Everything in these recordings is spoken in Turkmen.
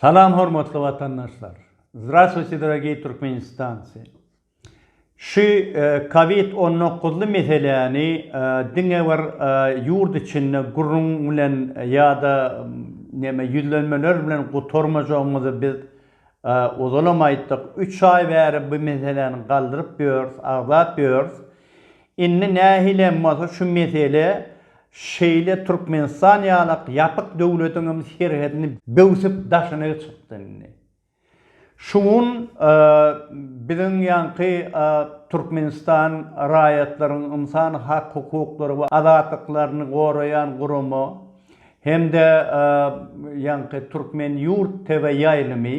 Salam hormatly watandaşlar. Zdravstvuyte dorogiý Türkmenistancy. Şu covid on dokuzly meseläni diňe bir ýurt içinde gürrüň bilen ýa-da neme ýüzlenmeler bilen gutarmajagymyzy biz ozalam aýtdyk. Üç aý bäri bu meseläni galdyryp ýörüs, agzap ýörüs. Indi nähilem bolsa şu mesele şeýle Türkmenistan ýalak ýapyk döwletiň hem serhedini böwsüp daşyna çykdy indi. Şu gün biziň ýaňky Türkmenistan raýatlaryň ynsan hak hukuklary we azatlyklaryny goraýan gurama hem-de ýaňky Türkmen ýurt TV ýaýlymy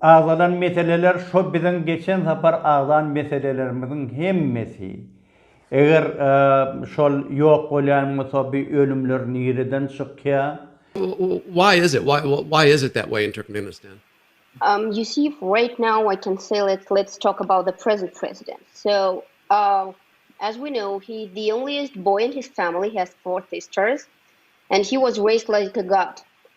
Agzalan meseleler şo biziň geçen sapar agzan meselelerimiziň hemmesi. Eger şol ýok bolýan bolsa bi ölümler nireden çykýa? Why is it why is it that way in Turkmenistan? Um you see right now I can say let's let's talk about the present president so uh as we know he the onlyest boy in his family has four sisters and he was raised like a god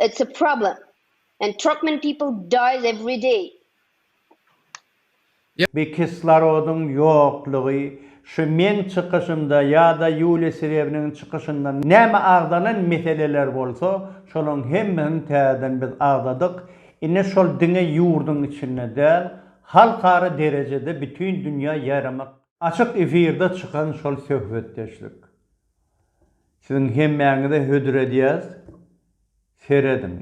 It's a problem and Turkmen people dies every day. Bi kislorodyň ýoklugy şu meň çykyşymda ýa-da Ýuliýa Serebiniň çykyşynda näme agzalan meseleler bolsa, şolaryň hemmesini täzeden biz agzadyk. Indi şol diňe ýurduň içinde däl, halkara derejede bütin dünýä ýaýramak. Açyk efirde çykan şol söhbetdeşlik. Siziň hemmäňize hödür edýäs, serediň.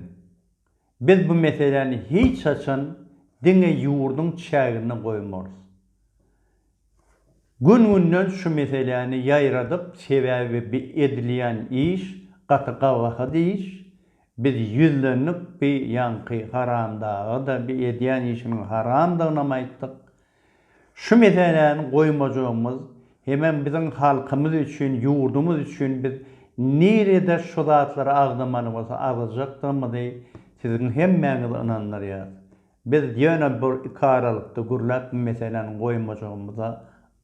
Biz bu meseläni hiç haçan diňe ýurduň çäginde goýmarys. Gün-günden şu meseläni ýaýradyp, sebäbi bi edilýän iş gaty gabahat iş. Biz ýüzlendik bi ýaňky haramdaga-da, bi edýän işiniň haramdygynam aýtdyk. Şu meseläni goýmajagymyz hemem biziň halkymyz üçin, ýurdumyz üçin biz nirede şu zatlary agzamaly bolsa agzajakdygymyzy siziň hemmäňizi ynandyrýarys. Biz ýöne bir iki aralykda gürläp bu meseläni goýmajagymyza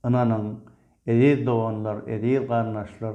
ynanyň, eziz doganlar, eziz garyndaşlar!